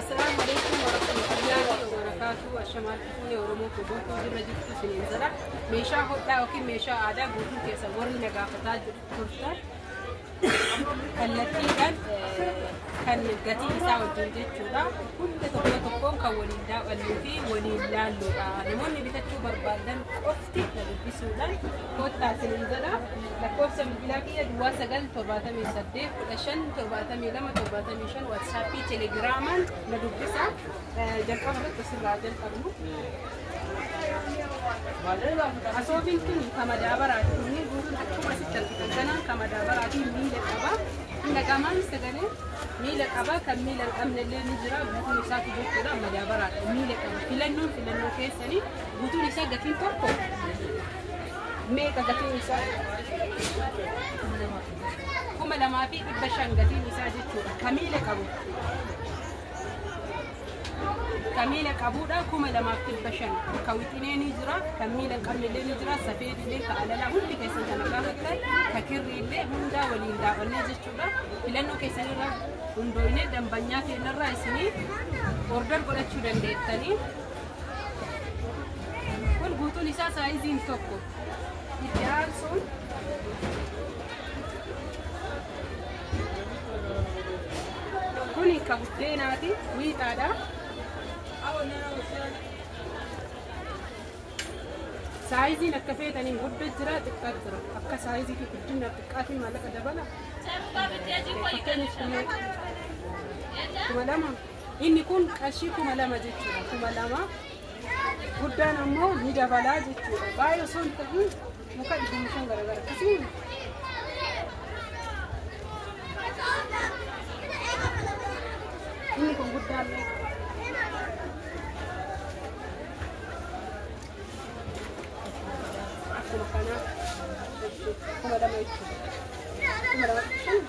Assalaamu alaikum warahmatullahi wabarakatuh. Ashamaan fuunee Oromoo koo guutuu jirra jirtu isiniin jira. Meeshaa hodhaa yookiin meeshaa aadaa guutuu keessa warri na gaafataa turtan kallattiidhaan kan gatii isaa wajjin jechuudha. Hunda tokko tokkoon kan waliin daawwannuu fi waliin laalluudha. Namoonni bitachuu barbaadan qofti na dubbisuudhaan kottaa isiniin jedha. Lakkoofsa bilbilaa kiyya duwwaa 9 78 15 72 75 waatsaappii telegiraamaan na dubbisa. Eh, Jalqaba irratti asirraa jalqabnu. Asoobiin kun kan madaabaraati. Kunniin guutuun akkuma asitti argitan kana kan madaabaraati miila qaba. Hunda qaamaan sagalee miila qaba. Kan miila hin qabne illee ni jira. Guutuun isaatu jechuudha madaabaraadha. Miila qaba. Filannoon filannoo keessanii guutuun isaa gatiin tokko meeqa gatiin isaa? kuma lamaa fi dhibba shan gatiin isaa jechuudha. Kamiila qabu. Kamiila qabuudha kuma lamaaf dhibba shan. Ka wixinee ni jira, ka miila hin qabne illee ni jira, safeeti illee ka alalaa hundi keessan kana gaafattan, ka kirrii illee hundaa waliin daawwannee jechuudha. Filannoo keessan irra hundooyne dambanyaa keenya irraa isinii order godhachuu dandeettanii. Kun guutuun isaa saayiziin tokko. Itti aansuun kun ka buddeenaati wiixaadha. Saayiziin akka feetaniin gudda jira xiqqaa jira. Akka saayizii fi guddina xiqqaatiin maallaqa dabala. Fakkeenyaaf kuma lama Inni kun qarshii kuma lama jechuudha. Kuma lama guddaan ammoo ni dabalaa jechuudha. Baay'ee osoo hin ta'in muka dhibbamu shan garagara akkasii inni kun guddaan akkuma kanaa kuma lama jechuudha. Kuma lama jechuun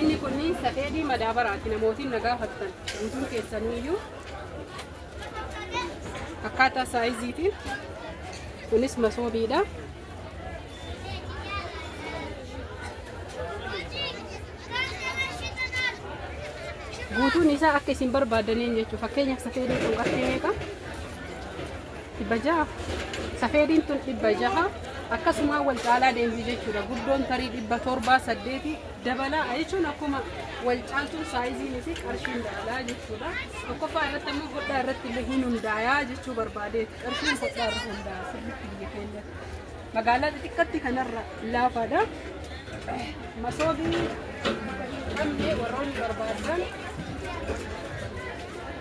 Inni kun safeedii madaabaraati namootiin na gaafattan guutuun keessaniyyuu akkaataa saayiziitiin kunis masoobiidha. Guutuun isaa akka isin barbaaddaniin jechuudha. Fakkeenyaaf safeedii kun qarshii meeqa? dhibba jaha safeediin tun dhibba jaha akkasumaa wal caalaa deemti jechuudha guddoon tarii dhibba torbaa saddeeti dabalaa jechuun akkuma wal caaltuun saayiziin fi qarshiin dabalaa jechuudha tokkoffaa irratti ammoo hodhaa irratti illee hin hundaayaa jechuu barbaadeeti qarshiin hodhaa irra hundaa'a sirriitti biyya keenyatti magaalaa xixiqqatti kanarra laafaadha masoobii qabdee warroonni barbaadan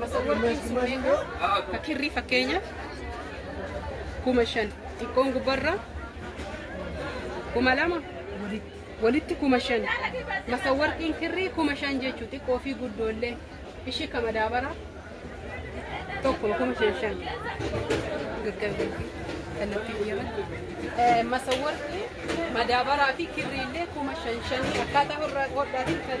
Masawartiin sumeekaa ka kirrii fakkeenya kuma shan xiqqoon gubbarra kuma lama walitti kuma shan masawartiin kirrii kuma shan jechuu xiqqoo fi guddoollee ishii ka madaabara tokko kuma shan shan gaggabee kallattii biyyaman masawartii madaabaraa fi kirriillee kuma shan shanii akkaataa hodhaatiin kan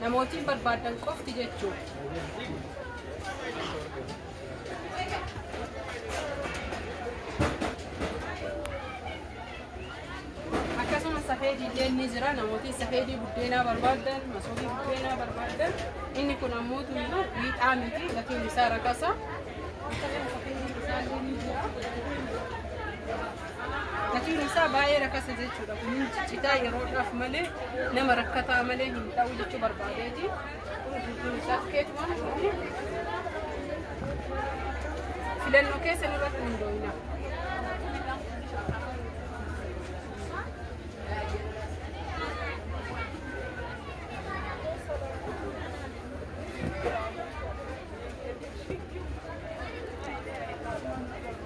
Namootiin barbaaddan qofti jechuudha. Akkasumas safeedii illee ni jira. Namootiin safeedii buddeenaa barbaaddan, masoobii buddeenaa barbaaddan. Inni kun ammoo tuyyuu miidhaa miti. Gatiin isaa rakasa. Akkasumas safeedii bishaan ni jira. Gatiin isaa baay'ee rakasa jechuudha. Kun ciccitaa yeroodhaaf malee nama rakkataa malee hin ta'u jechuu barbaadeeti. Kun guutuun isaa tikeetuma. Filannoo keessan irratti hundooyina.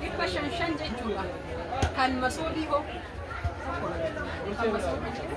dhibba shan shan jechuudha. Kan masoobii hoo? Kan masoobii jedhu.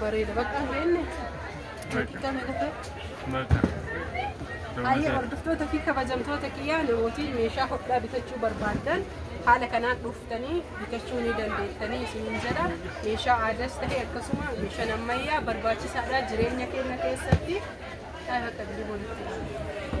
Bareeda bakka hin beekne. Bakka. Bakka. Ayya hordoftoota fi kabajamtoota kiyyaa namooti meeshaa hodhaa bitachuu barbaaddan haala kanaan dhuftanii bitachuu ni dandeettanii isiniin jedha. Meeshaa aadaas ta'e akkasuma meeshaan ammayyaa barbaachisaadha jireenya keenya keessatti. Taa bakka diri walitti.